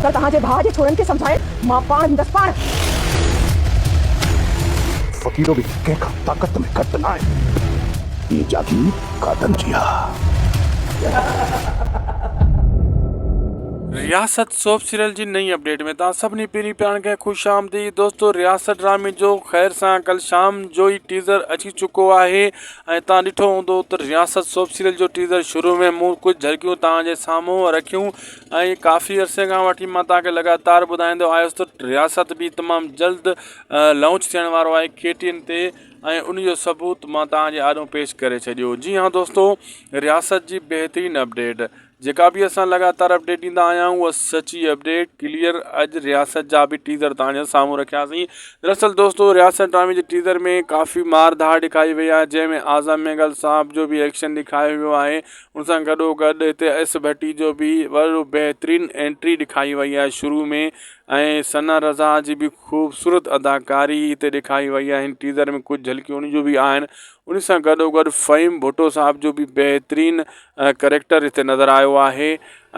پر توهان جي ڀاء جي ڇورن کي سمجهائڻ مان پاڻ ويندس، پاڻ! فقيرو به ڪنهن کان طاقت ۾ گهٽ ناهي. هيء جاگير قادن جي آ. رياست سوپ سيريل جي نئين اپڊيٽ ۾ توهان سڀني پهرين پيارن کي خوش آمديد دوستو رياست ڊرامي جو خير سان ڪل شام جو ئي ٽيزر اچي چڪو آهي ۽ توهان ڏٺو هوندو ته رياست سوپ سيريل جو ٽيزر شروع ۾ مون ڪجهه جهرڪيون توهان جي سامهون رکيون ۽ ڪافي عرصي کان وٺي مان توهان کي لڳاتار ٻڌائيندو آيس ته رياست به تمام جلد لانچ ٿيڻ وارو آهي ڪي ٽي اين تي ۽ ان جو ثبوت مان توهان جي آڏو پيش ڪري ڇڏيو جي هان دوستو رياست جي بهترين اپڊيٽ جيڪا به اسان لڳاتار اپڊيٽ ڏيندا آيا آهيون اها سچي اپڊيٽ ڪليئر اڄ رياست جا به ٽيزر توهانجي سامهون رکياسين دراصل دوستو رياست ڊرامي جي ٽيزر ۾ ڪافي مار ڌاڙ ڏيکاري وئي آهي جنهن ۾ اعظم مينگل صاحب جو به ايڪشن ڏيکايو ويو آهي ان سان گڏو گڏ هتي ايس ڀٽي جو به وڏو بهترين انٽري ڏيکاري وئي آهي شروع ۾ ۽ ثنا رضا جي به خوبصورت اداڪاري هتي ڏيکاري وئي آهي هن ٽيزر ۾ ڪجهه جھلڪيون ان جون به آهن ان سان گڏو گڏ فهيم ڀٽو صاحب جو به بهترين ڪريڪٽر هتي نظر آيو آهي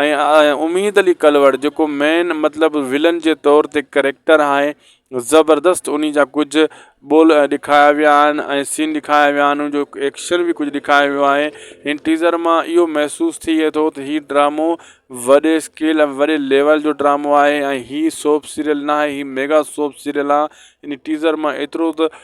۽ اميد علي ڪلوڙ جيڪو مين مطلب ولن جي طور تي ڪريڪٽر آهي زبردست انهي جا ڪجهه ٻول ڏيکايا ويا آهن ۽ سين ڏيکايا ويا آهن ان جو ايڪشن بي ڪجهه ڏيکايو ويو آهي هن ٽيزر مان اهو محسوس ٿئي ٿو ته هي ڊرامو وڏي اسڪيل ۽ وڏي ليول جو ڊرامو آهي ۽ هي سوپ سيريل ناهي هي ميگا سوپ سيريل آهي ان ٽيزر مان ايترو ته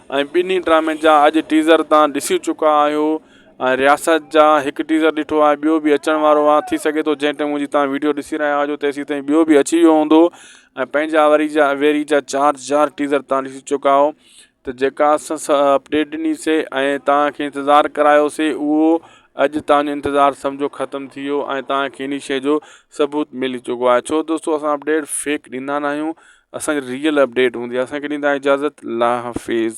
۽ ٻنهي ڊرامين جا اڄ ٽيزر تان ڏسي چڪا آهيو ۽ رياست جا هڪ ٽيزر ڏٺو آهي ٻيو به اچڻ وارو آهي ٿي سگهي ٿو جنهن ٽيم جي تان ويڊيو ڏسي رهيا هجو تيسين تائين ٻيو به اچي ويو هوندو ۽ پنهنجا وري جا ويري جا چار چار ٽيزر تان ڏسي چڪا آهيو ته جيڪا اسس اپڊيٽ ڏني سي ۽ تان کي انتظار ڪرايو سي اهو اڄ تان جو انتظار سمجهو ختم ٿي ويو ۽ تان کي انهي شئي جو ثبوت ملي چڪو آهي ڇو دوستو اسان اپڊيٽ فيڪ ڏيندا ناهيون اسان جي ريئل اپڊيٽ هوندي اسان کي ڏيندا اجازت الله حافظ.